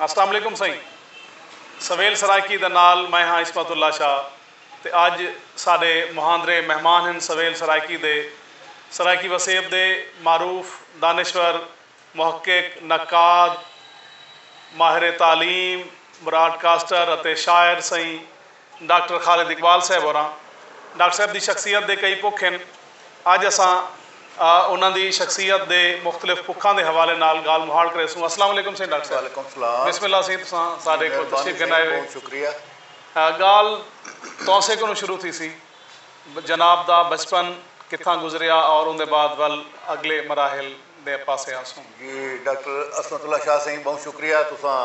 السلام علیکم سئیں سویل سرائیکی دے نال میں ہاں عصمت اللہ شاہ تے اج ساڈے مہاندرے مہمان ہن سویل سرائیکی دے سرائیکی وسیب دے معروف دانشور محقق نقاد ماہر تعلیم براڈ کاسٹر اتے شاعر سئیں ڈاکٹر خالد اقبال صاحب ہوراں۔ ڈاکٹر صاحب دی شخصیت دے کئی پکھ ہن۔ اج اساں انہاں دی شخصیت دے مختلف پکھاں دے حوالے نال گالھ مہاڑ کریسوں۔ السلام علیکم سئیں ڈاکٹر صاحب۔ وعلیکم السلام۔ بسم اللہ سئیں تساں ساڈے کول تشریف گھن آئے ہوئے۔ بہت شکریہ۔ گالھ تہاں سے کنوں شروع تھیسی۔ جناب دا بچپن کتھاں گزریا اور اوندے بعد ول اگلے مراحل دے پاسے آسوں۔ جی ڈاکٹر عصمت اللہ شاہ سئیں بہوں شکریہ تساں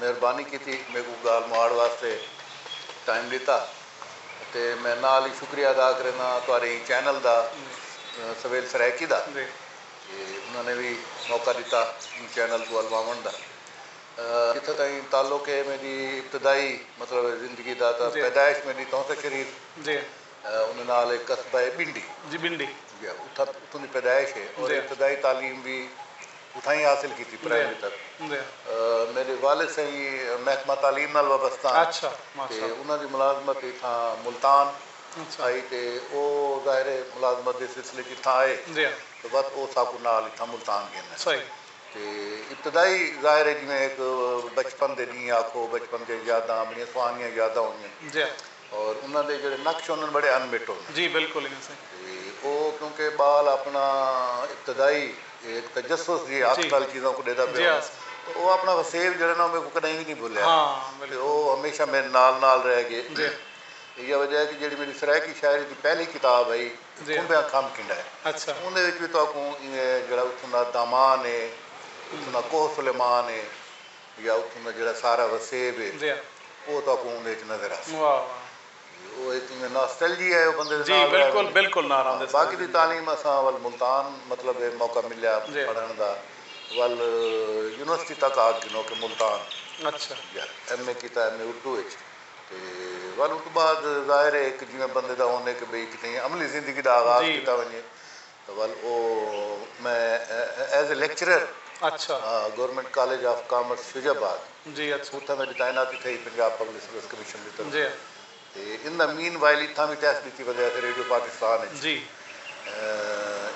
مہربانی کیتی میکوں گالھ مہاڑ واسطے ٹائم ڈتا تے میں نال ہی شکریہ ادا کرینداں تہاڈے ایں چینل دا سویل سرائیکی دا کہ انہاں نے وی موقع ڈتا ایں چینل کوں الواونڑ دا۔ جتھاں تائیں تعلق اے میڈی ابتدائی مطلب زندگی دا تاں پیدائش میڈی تونسہ شریف انہاں نال اے قصبہ اے بنڈی اتھاں دی پیدائش اے اور ابتدائی تعلیم وی اتھائیں حاصل کیتی پرائمری تک میڈے والد سئیں محکمہ تعلیم نال وابستہ ہن تے انہاں دی ملازمت اتھاں ملتان ہائی تے او ظاہر اے ملازمت دے سلسلے اچ اتھاں آئے تاں بس او ساکوں نال اتھاں ملتان گھن آئے۔ تے ابتدائی ظاہر ہے جیویں ہک بچپن دے ڈینہہ آکھو بچپن دیاں یاداں بڑیاں سہانیاں یاداں ہوندیاں اور انہاں دے جیڑھے نقش ہوندن بڑے ان مٹ ہوندن جی بالکل ایویں سائیں تے او کیونکہ بال اپنا ابتدائی ہک تجسس جی اکھ نال چیزاں کوں ڈیدا پیا ہوندا تے او اپنا وسیب جیڑھا نا او میکوں کڈاہیں وی نی بھولیا تے او ہمیشہ میڈے نال نال رہ گئے ایہا وجہ ہے کہ جیڑھی میڈی سرائیکی شاعری دی پہلی کتاب ہئی اتھوں دا کم کیندا ہے۔ اوندے وچ وی تہاکوں ایویں جیڑھا اتھوں دا دامان ہے، اتھوں دا کوہ سلیمان ہے یا اتھوں دا جیڑھا سارا وسیب ہے او تہاکوں اوندے وچ نظر آسی۔ او ہک ایویں ناسٹلجیا ہے او بندے دے نال رہ ویندی۔ باقی دی تعلیم اساں ول ملتان مطلب ہے موقع ملیا پڑھݨ دا ول یونیورسٹی تک آکھ گھنو کہ ملتان ایم اے کیتا ایم اے اردو وچ۔ تے ول اوں توں بعد ظاہر ہے ہک جیویں بندے دا ہوندے کہ بھئی کتھیں عملی زندگی دا آغاز کیتا ونجے تاں ول او میں as a lecturer government college of commerce Faizabad اتھاں میڈی تعیناتی تھئی پنجاب پبلک سروس کمیشن دی طرف تے ان دا مین وائل اتھاں وی ٹیسٹ ڈتی ودے اسے ریڈیو پاکستان اچ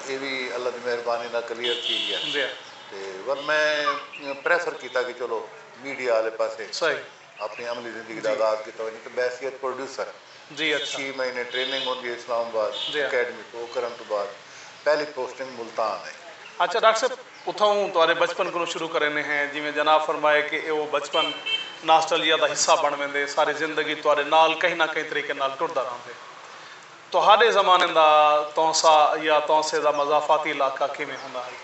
اے وی اللہ دی مہربانی نال کلیئر تھی گیا تے ول میں پریفر کیتا کہ چلو میڈیا آلے پاسے اپݨی عملی زندگی دا آغاز کیتا ونڄے تاں بحیثیت پروڈیوسر چھی مہینے ٹریننگ ہوندی ہے اسلام آباد اکیڈمی توں او کرݨ توں بعد پہلی پوسٹنگ ملتان ہے۔ اچھا ڈاکٹر صاحب اتھاؤں تہاݙے بچپن کنوں شروع کریندے ہیں جیویں جناب فرمائے کہ ایہ او بچپن ناسٹلجیا دا حصہ بݨ ویندے ساری زندگی تہاݙے نال کہیں نہ کہیں طریقے نال ٹردا رہندے۔ تہاݙے زمانے دا تونسہ یا تونسے دا مضافاتی علاقہ کیویں ہوندا ہئی؟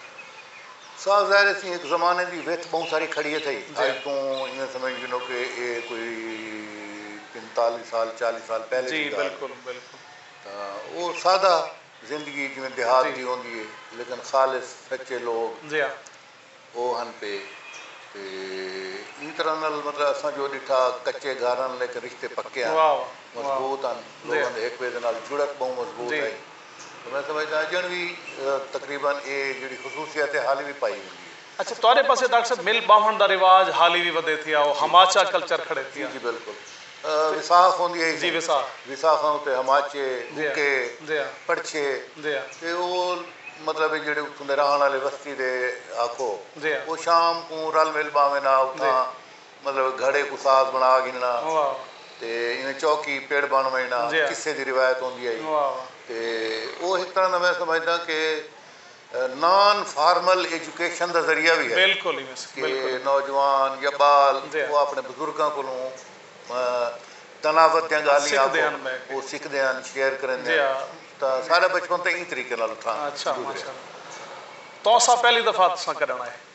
سا ظاہر اسی ہک زمانے دی وتھ ٻہوں ساری کھڑی اتھئی۔ اڄ توں ایویں سمجھ گھنو کہ اے کوئی پنتالیہہ سال چالیہہ سال پہلے دی ڳالھ اے۔ تاں او سادہ زندگی جیویں دیہات دی ہوندی اے لیکن خالص سچے لوک۔ او ہن پے تے ایں طرح نال مطلب اساں جو ڈٹھا کچے گھر ہن لیکن رشتے پکے ہن مضبوط ہن لوگاں دے ہک بئے دے نال جڑک بہوں مضبوط ہئی تے میں سمجھداں اجنڑ وی تقریبا اے جیڑھی خصوصیت اے حالی وی پائی ویندی اے۔ اچھا تہاڈے پاسے ڈاکٹر صاحب مل باہنڑ دا رواج حالی وی ودھے تھیا او ہماچا کلچر کھڑے تھیا۔ جی جی بالکل۔ وساخ ہوندی ہئی جی وساخ وساخاں اتے ہماچے بھکے پڑچھے تے او مطلب جیڑھے اتھوں دے راہن آلے وستی دے آکھو او شام کوں رل مل باویں نا اتھاں مطلب گھڑے کوں ساز بنا گھننا تے ایویں چوکی پڑ بن ونجنا قصے دی روایت ہوندی ہئی تے او ہک طرح نا میں سمجھداں کہ نان فارمل ایجوکیشن دا ذریعہ وی ہے کہ نوجوان یا ٻال او آپݨے بزرگاں کولوں دناوت دیاں ڳالھیں آکھو او سکھدے ہن شیئر کریندے ہن تاں سارا بچپن تاں ایں طریقے نال اتھاں گزریا۔ تہاں ساں پہلی دفعہ تساں کݙݨ آئے؟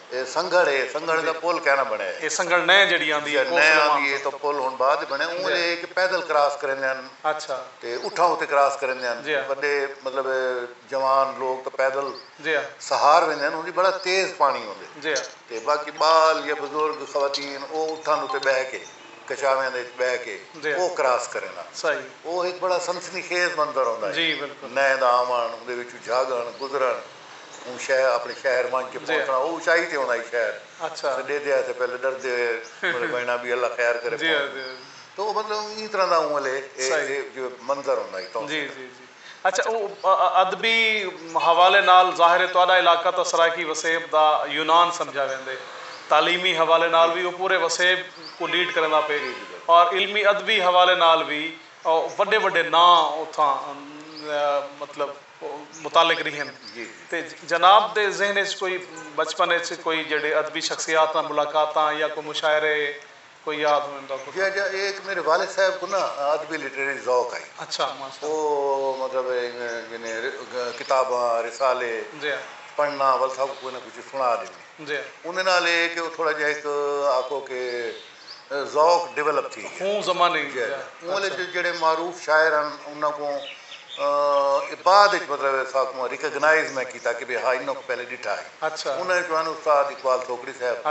اے سنگھڑ اے سنگھڑ دا پل کائناں بنڑیا اے۔ اے سنگھڑ نئیں جیڑھی آندی اے کوسل مان۔ نئیں آندی اے تاں پل ہن بعد بنڑیا اوں ویلے اے کہ پیدل کراس کریندے ہن تے اٹھاں اتے کراس کریندے ہن وڈے مطلب جوان لوگ تاں پیدل سہار ویندے ہن ہوندی بڑا تیز پانڑی ہوندے تے باقی بال یا بزرگ خواتین او اٹھاں اتے بہہ کے کچاویاں دے اچ بہہ کے او کراس کریندن او ہک بڑا سنسنی خیز منظر ہوندا اے نئیں دا آونڑ اوندے وچوں جھاگنڑ گزرنڑ۔ اوں شہر اپݨے شہر ونج کے پہنچݨا او اچائی تے ہوندا ہی شہر اساں ڈیدے ہا تے پہلے ڈردے ہوئے مطلب وینا بھی اللہ خیر کرے تو او مطلب ایں طرح دا اوں ولے اے جو منظر ہوندا ہی توں جی جی جی اچھا او ادبی حوالے نال ظاہر ہے تہاڈا علاقہ تاں سرائیکی وسیب دا یونان سمجھا ویندے تعلیمی حوالے نال وی او پورے وسیب کوں لیڈ کریندا پئے اور علمی ادبی حوالے نال وی وڈے وڈے ناں اتھاں مطلب متعلق ریہن تے جناب دے ذہن اچ کوئی بچپن اچ کوئی جیہڑے ادبی شخصیات نال ملاقاتاں یا کوئی مشاعرے کوئی یاد ہوں اندا کوئی۔ جی جی اے ہک میڈے والد صاحب کوں نا ادبی لٹریری ذوق ہئی۔ اچھا ماشاء اللہ۔ او مطلب یعنی کتاباں رسالے پڑھنا ول ساکوں کوئی نہ کوئی چیز سنا ڈیندے۔ انہاں نال اے کہ او تھوڑا جیہا ہک آکھو کہ۔ ذوق ڈویلپ تھی گیا خوں زمانے جی اوں ویلے جو جیڑھے معروف شاعر ہن انہاں کوں ا بعد اچ مطلب اساکوں ریکگنائز میں کیتا کہ بھئی ہا انہاں کوں پہلے ڈٹھا ہے انہاں اچوں ہن استاد اقبال تھوکڑی صاحب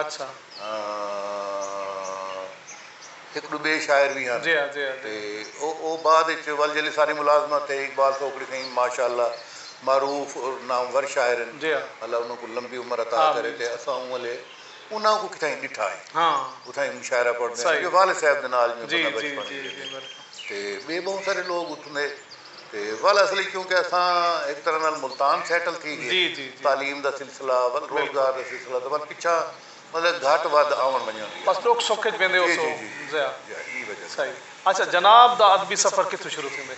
ہک ڈو بے شاعر وی ہن تے او بعد اچ ول جیلے ساری ملازمت تھئی اقبال تھوکڑی سئیں ماشاءاللہ معروف اور نامور شاعر ہن اللہ انہاں کوں لمبی عمر عطا کرے تے اساں اوں ویلے انہاں کوں کتھائیں ڈٹھا ہئی اتھائیں مشاعرہ پڑھدے ہن جو والا صاحب دے نال جیویں بندہ بچپن وچ رہندے تے ٻئے ٻہوں سارے لوگ اتھوں دے تے ول اصل وچ کیونکہ اساں ہک طرح نال ملتان سیٹل تھی ڳئے تعلیم دا سلسلہ ول روزگار دا سلسلہ تے ول پچھاں مطلب گھٹ ودھ آوݨ ونڄݨ ریہا۔ بس ݙکھ سکھ وچ ویندے ہوسو ضیا۔ اچھا جناب دا ادبی سفر کتھوں شروع تھیندے؟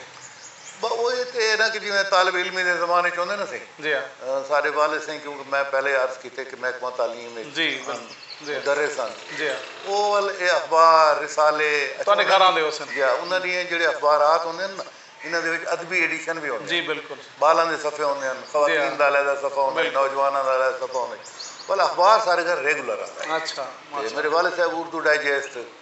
بس او ای تے اے نا کہ جیویں طالب علمی دے زمانے اچ ہوندے نا سئیں جی ہاں۔ ساڈے والد سئیں کیونکہ میں پہلے عرض کیتے کہ محکمہ تعلیم اچ جی ہن بالکل جی مدرس ہن جی ہاں۔ او ول اے اخبار، رسالے اچھا تہاڈے گھر آندے ہوسن۔ جی ہاں انہاں ڈینہہ جیڑھے اخبارات ہوندے ہن نا انہاں دے وچ ادبی ایڈیشن وی ہوندے جی ہن۔ بالکل۔ بالاں دے صفحے ہوندے ہن، خواتین دا علیحدہ صفحہ ہوندا ہئی، نوجواناں دا علیحدہ صفحہ ہوندا ہئی۔ ول اخبار ساڈے گھر ریگولر آندا ہئی۔ اچھا ماشاءاللہ۔ تے میڈے والد صاحب اردو ڈائجسٹ۔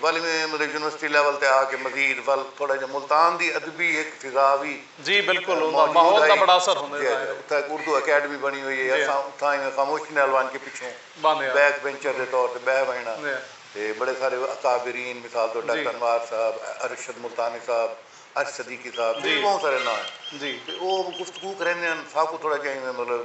ول ایویں مطلب یونیورسٹی لیول تے آ کے مزید ول تھوڑا جیہا ملتان دی ادبی ہک فضا وی جی بالکل اوندا موجود ماحول دا ہئی بڑا اثر ہوندے جی دا جی ہے اتھاں ہک اردو اکیڈمی بنی ہوئی ہئی جی ہاں اساں اتھاں ایویں خاموشی نال ونج کے پچھوں باندھے ہاں بیک بینچر دے طور تے بہہ ونجݨا جی تے بڑے سارے اکابرین مثال طور جی ڈاکٹر انوار صاحب ارشد ملتانی صاحب ارش صدیقی صاحب جی تے ٻہوں سارے ناں ہن جی تے او گفتگو کریندے ہن ساکوں تھوڑا جیہا ایویں مطلب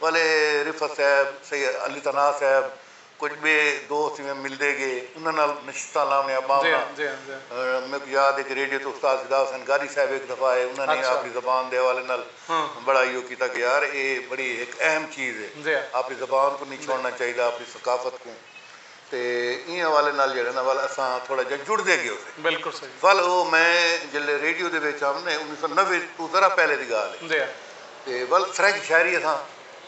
ولے رفعت صاحب، سید علی ثناء صاحب، کجھ ٻئے دوست جیویں ملدے ڳئے، انہاں نال نشستاں لاونیاں ٻاونیاں۔ میکوں یاد ہے کہ ریڈیو تے استاد فدا حسین گادی صاحب ہک دفعہ آئے، انہاں نے آپݨی زبان دے حوالے نال بڑا ایہو کیتا کہ یار ایہ بڑی ہک اہم چیز ہے، آپݨی زبان کوں نی چھوڑݨا چاہیدا، آپݨی ثقافت کوں۔ تے ایں حوالے نال جیڑھے نا ول اساں تھوڑا جیہا جڑدے گیو سے۔ بالکل صحیح۔ ول او میں جلے ریڈیو دے وچ ہم نے انیس سو نوے توں ذرا پہلے دی گالھ ہے۔ جی ہاں۔ تے ول فرینچ شاعری اساں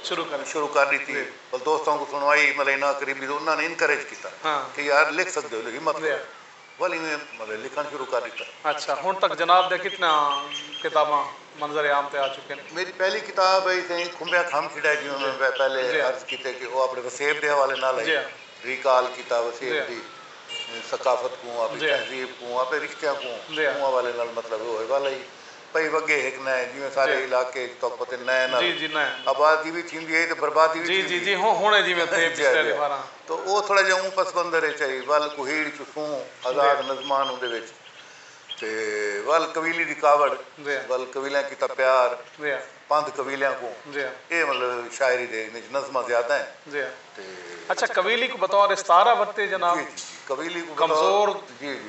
شروع کر شروع کر ڈتی جی۔ ول دوستاں کوں سنوائی ملے نا قریبی انہاں نے انکریج کیتا ہاں۔ کہ یار لکھ سکدے ہو ہمت کرو۔ ول ایویں مطلب لکھݨ شروع کر ݙتا۔ اچھا ہݨ تک جناب دیاں کتنیاں کتاباں منظر عام تے آ چکین ہن؟ میݙی پہلی کتاب ہئی سئیں کھمبیاں کھم چھݙئے جیویں میں پہلے عرض کیتے کہ او اپݨے وسیب دے حوالے نال ہئی ریکال کیتا وسیب دی ثقافت کوں اپݨی تہذیب کوں اپݨے رشتیاں کوں اوں حوالے نال مطلب او حوالہ ہئی پئی وگے ہک نئیں جیویں سارے علاقے اچ تہک پتے نئیں نال آبادی وی تھیندی ہئی تے بربادی وی تھیندی تاں او تھوڑا جیہا اوں پس مندر اچ ہئی ول کوہیڑ چسوں آزاد نظمان اوندے وچ تے ول قبیلی دی کاوڑ ول قبیلیاں کیتا پیار پندھ قبیلیاں کوں اے مطلب شاعری دے انہاں اچ نظماں زیادہ ہن تے۔ اچھا قبیلی کوں بطور استعارہ ورتے جناب۔ جی جی جی قبیلی کوں بطور جی جی۔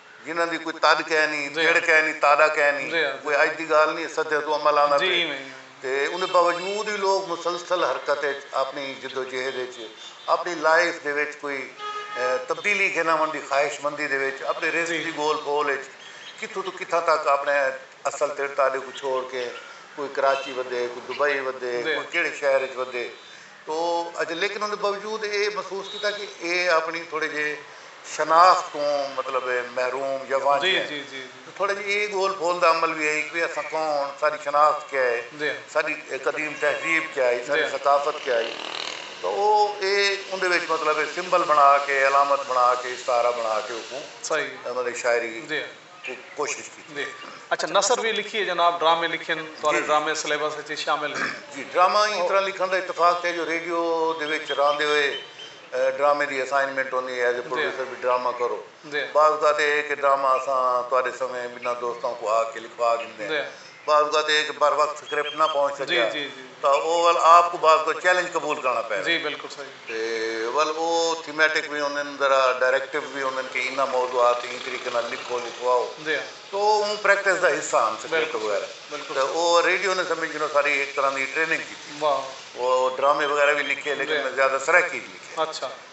جنہاں دی کوئی تڈ کینی، تیڈ کینی، تاڈا کینی، کوئی اج دی گالھ نی اے، صدیاں توں عمل آندا پئے تے اوندے باوجود وی لوک مسلسل حرکت اچ اپنی جدوجہد اچ اپنی لائف دے وچ کوئی تبدیلی گھن آوݨ دی خواہش مندی دے وچ اپݨے رزق دی ڳول پھول اچ کتھوں توں کتھاں تک اپݨے اصل تیڈ تاڈے کوں چھوڑ کے کوئی کراچی ودے، کوئی دبئی ودے، کوئی کیڑھے شہر اچ ودے تو اچ لیکن اوندے باوجود اے محسوس کیتا کہ اے اپنی تھوڑے جے شناخت توں مطلب محروم یا وانجھے ہن تو تھوڑا جے اے گول پھول دا عمل وی ہئی کہ اساں کون ساڈی شناخت کیا ہے ساڈی قدیم تہذیب کیا ہئی ساڈی ثقافت کیا ہئی تو او اے اوندے وچ مطلب سمبل بنا کے علامت بنا کے استعارہ بنا کے اوکوں مطلب شاعری کوں کوشش کیتی ہے۔ اچھا نثر وی لکھیے جناب ڈرامے لکھن تہاڈے ڈرامے سلیبس اچ شامل ہیں۔ جی ڈرامہ ایں طرح لکھن دا اتفاق ہے جو ریڈیو دے وچ راہندے ہوئے ڈرامے دی اسائنمنٹ ہوندی ہے ایز اے پروڈیوسر بھی ڈرامہ کرو بعض اوقات اے ہے کہ ڈرامہ اساں تہاڈے سویں بنھاں دوستاں کوں آکھ کے لکھوا گھندے ہیں۔ بعض اوقات ایک بروقت سکرپٹ نہ پہنچ سکیا تاں او ول آپ کوں بعض کوئی چیلنج قبول کرنا پے وے تے ول او تھیمیٹک وی ہوندن ذرا ڈائریکٹیو وی ہوندن کہ انہاں موضوعات تے ایں طریقے نال لکھو لکھواؤ تاں او اوں پریکٹس دا حصہ ہن سکرپٹ وغیرہ تے او ریڈیو نے سمجھ گھنو ساری ہک طرح دی ٹریننگ کیتی او ڈرامے وغیرہ وی لکھے لیکن میں زیادہ سرائیکی اچ لکھے۔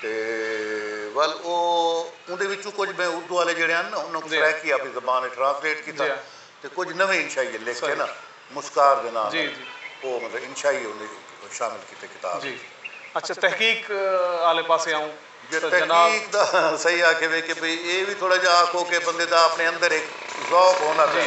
تے ول او اوندے وچوں کجھ میں اردو آلے جیڑھے ہن نا انہاں کوں سرائیکی آپݨی زبان وچ ٹرانسلیٹ کیتا تے کجھ نویں انشائیے لکھ کے نا مسکار دے ناں نال او مطلب انشائی اوندے وچ شامل کیتے کتاب وچ۔ اچھا تحقیق آلے پاسے آؤں تاں جناب۔ تحقیق دا صحیح آکھیوے کہ بھئی اے وی تھوڑا جیہا آکھو کہ بندے دا آپݨے اندر ہک ذوق ہونا پے۔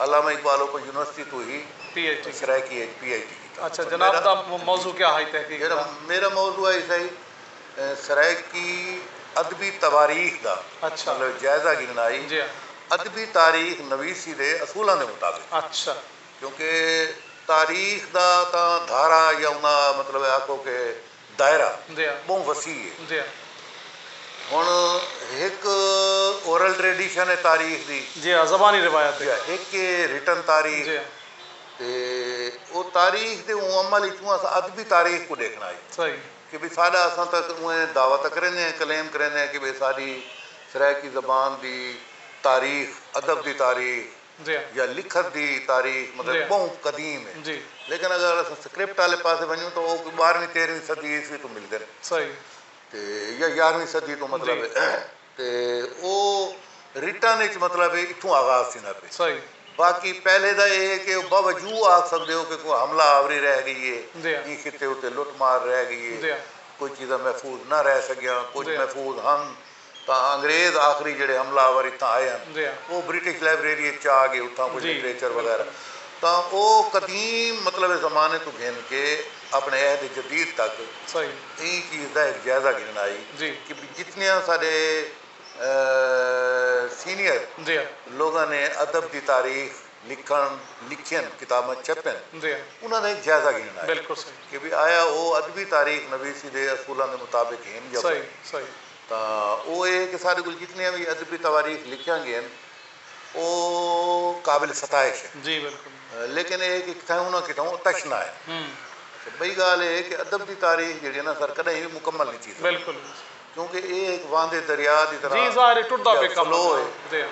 علامہ اقبال اوپن یونیورسٹی توں ہی پی ایچ ڈی سرائیکی اچ پی ایچ ڈی کیتا۔ اچھا جناب دا موضوع کیا ہئی تحقیق دا؟ میرا موضوع ہئی سائی سرائیکی ادبی تواریخ دا مطلب جائزہ گھننا ہئی ادبی تاریخ نویسی دے اصولاں دے مطابق کیونکہ تاریخ دا تاں دھارا یا انہاں مطلب آکھو کہ دائرہ ٻہوں وسیع ہے۔ ہݨ ہک اورل ٹریڈیشن ہے تاریخ دی۔ جی ہا زبانی روایت دی۔ جی ہک ہے رٹن تاریخ۔ جی۔ تے او تاریخ دے اوں عمل اچوں اساں ادبی تاریخ کوں ݙیکھݨا ہئی۔ صحیح۔ کہ بھئی ساݙا اساں تاں اونویں دعوی تاں کریندے ہیں کلیم کریندے ہیں کہ بھئی ساݙی سرائیکی زبان دی تاریخ ادب دی تاریخ۔ یا لکھت دی تاریخ مطلب بہوں قدیم ہے لیکن اگر اساں سکرپٹ آلے پاسے ونجوں تاں او کوئی بارہویں تیرہویں صدی عیسوی توں ملدن تے یا یارہویں صدی توں مطلب تے او رٹن اچ مطلب اتھوں آغاز تھیندا پئے باقی پہلے دا اے ہے کہ او باوجو آکھ سکدے او کہ کوئی حملہ آوری رہ گئی ہے ایں خطے اتے لٹ مار رہ گئی ہے کوئی چیزاں محفوظ نہ رہ سگیاں کچھ محفوظ ہن۔ تاں انگریز آخری جیڑھے حملہ آور اتھاں آئے ہن او برٹش لائبریری اچ چا گئے اتھاں کجھ لٹریچر وغیرہ تاں او قدیم مطلب زمانے توں گھن کے اپنے عہد جدید تک ایں چیز دا ہک جائزہ گھنن آئی کہ بھئی جتنیاں ساڈے سینئر لوگاں نے ادب دی تاریخ لکھن لکھین کتاباں چھپین انہاں دا ہک جائزہ گھنن آئی کہ بھئی آیا او ادبی تاریخ نویسی دے اصولاں دے مطابق ہن یا کوئی نی۔ تاں او اے کہ ساڈے کول جتنیاں وی ادبی تواریخ لکھیاں گین او قابل ستائش ہن لیکن اے کہ کتھائوں نہ کتھائوں تشنہ ہن۔ اچھا بئی گالھ اے کہ ادب دی تاریخ جیڑھی ہے نا سر کڈاہیں وی مکمل نی تھی سگدی کیونکہ اے ہک واندے دریا دی طرح فلو اے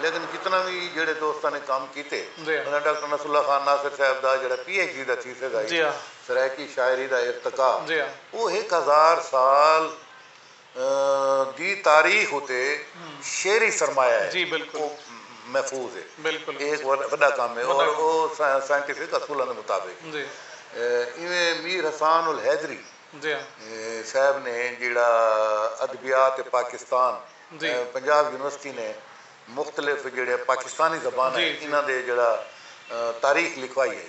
لیکن جتنا وی جیڑھے دوستاں نے کم کیتے انہاں ڈاکٹر نصر اللہ خان ناصر صاحب دا جیڑھا پی ایچ ڈی دا تھیسز ہئی سرائیکی شاعری دا ارتقا او ہک ہزار سال دی تاریخ اتے شعری سرمایہ ہے او محفوظ ہے اے ہک وݙا کم ہے اور او سائنٹیفک اصولاں دے مطابق ہے ایویں میر حسان الحیدری صاحب نے جیڑھا ادبیات پاکستان پنجاب یونیورسٹی نے مختلف جیڑھے پاکستانی زباناں انہاں دے جیڑھا تاریخ لکھوائی ہئی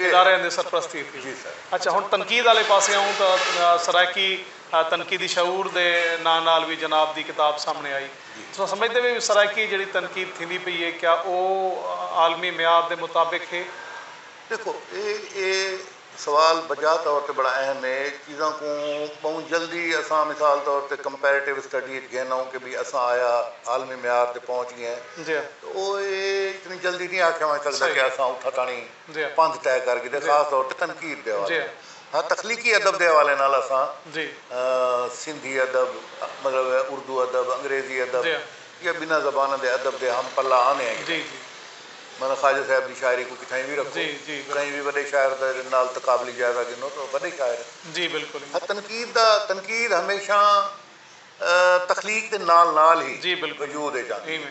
اداریاں دی سرپرستی تھی۔ اچھا ہن تنقید آلے پاسے آؤں تاں سرائیکی تنقیدی شعور دے ناں نال وی جناب دی کتاب سامنے آئی۔ تساں سمجھدے وی سرائیکی جیڑھی تنقید تھیندی پئی ہے کیا او عالمی معیار دے مطابق ہے؟ ڈیکھو اے اے سوال بجا طور تے بڑا اہم ہے۔ چیزاں کوں بہوں جلدی اساں مثال طور تے کمپیریٹیو اسٹڈی اچ گھن آؤں کہ بھئی اساں آیا عالمی معیار تے پہنچ گئے ہیں۔ تاں او اے اتنی جلدی نی آکھیا ونج سکدا کہ اساں اتھاں تانڑیں پندھ طے کر گھدے خاص طور تے تنقید دے حوالے نال ہاں تخلیقی ادب دے حوالے نال اساں سندھی ادب مطلب اردو ادب انگریزی ادب یا بناں زباناں دے ادب دے ہم پلہ آنے آں گھدے مطلب خواجہ صاحب دی شاعری کوں کتھائیں وی رکھو کہیں وی وڈے شاعر دے نال تقابلی جائزہ گھنو تاں وڈے شاعر ہیں ہاں تنقید دا تنقید ہمیشہ تخلیق دے نال نال ہی وجود اچ آندی ہے۔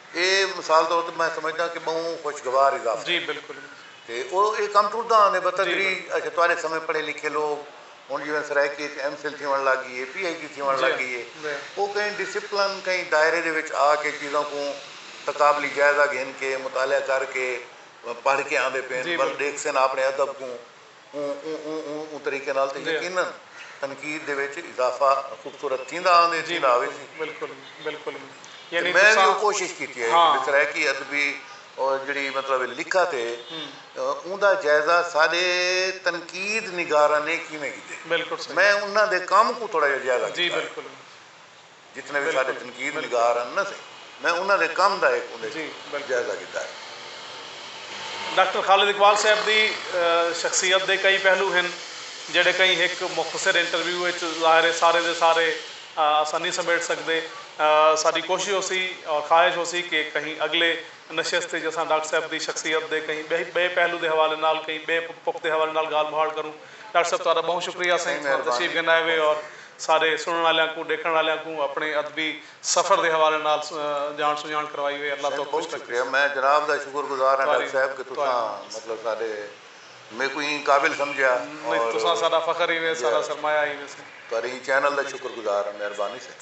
اے مثال طور تے میں سمجھداں کہ بہوں خوشگوار اضافہ ہے۔ جی بالکل۔ تے او اے کم ٹرداں آندے بتدریج اچھا تہاڈے سمے پڑھے لکھے لوگ ہن جیویں سرائیکی اچ ایم فل تھیوݨ لگ گئی اے پی ایچ ڈی تھیوݨ لگ گئی اے او کہیں ڈسپلن کہیں دائرے دے وچ آ کے چیزاں کوں تقابلی جائزہ گھن کے مطالعہ کر کے پڑھ کے آندے پئن ول ڈیکھسن اپݨے ادب کوں اوں طریقے نال تے یقینا تنقید دے وچ اضافہ خوبصورت تھیندا آندے تھیندا آوے سی۔ بالکل بالکل یعنی میں وی او کوشش کیتی ہے کہ سرائیکی ادبی جیڑھی مطلب لکھت ہے اوندا جائزہ ساڈے تنقید نگاراں نے کیویں گھدے۔ بالکل صحیح میں انہاں دے کم کوں تھوڑا جیہا جائزہ گھدا ہے۔ جی بالکل۔ جتنے وی ساڈے تنقید نگار ہن نا سئیں میں انہاں دے کم دا ہک اوندے اچ جائزہ گھدا ہے۔ ڈاکٹر خالد اقبال صاحب دی شخصیت دے کئی پہلو ہن جیڑھے کہیں ہک مختصر انٹرویو اچ ظاہر ہے سارے دے سارے اساں نی سمیٹ سگدے۔ ساڈی کوشش ہوسی اور خواہش ہوسی کہ کہیں اگلے نشست اچ اساں ڈاکٹر صاحب دی شخصیت دے کہیں بئے پہلو دے حوالے نال کہیں بئے پک دے حوالے نال گالھ مہاڑ کروں۔ ڈاکٹر صاحب تہاڈا بہوں شکریہ سئیں تشریف گھن آئے ہوئے اور سارے سنڑݨ آلیاں کوں ݙیکھݨ آلیاں کوں اپݨے ادبی سفر دے حوالے نال ڄاݨ سنڄاݨ کروائی وے اللہ توک خوش رکھے سائیں۔ میں جناب دا شکر گزار ہاں ڈاکٹر صاحب کہ تساں مطلب ساڈے میکوں ایں قابل سمجھیا اور تساں ساڈا فخر ہیوے ساڈا سرمایہ ہیوے سائیں۔ تہاڈے ایں چینل دا شکر گزار ہاں مہربانی سائیں۔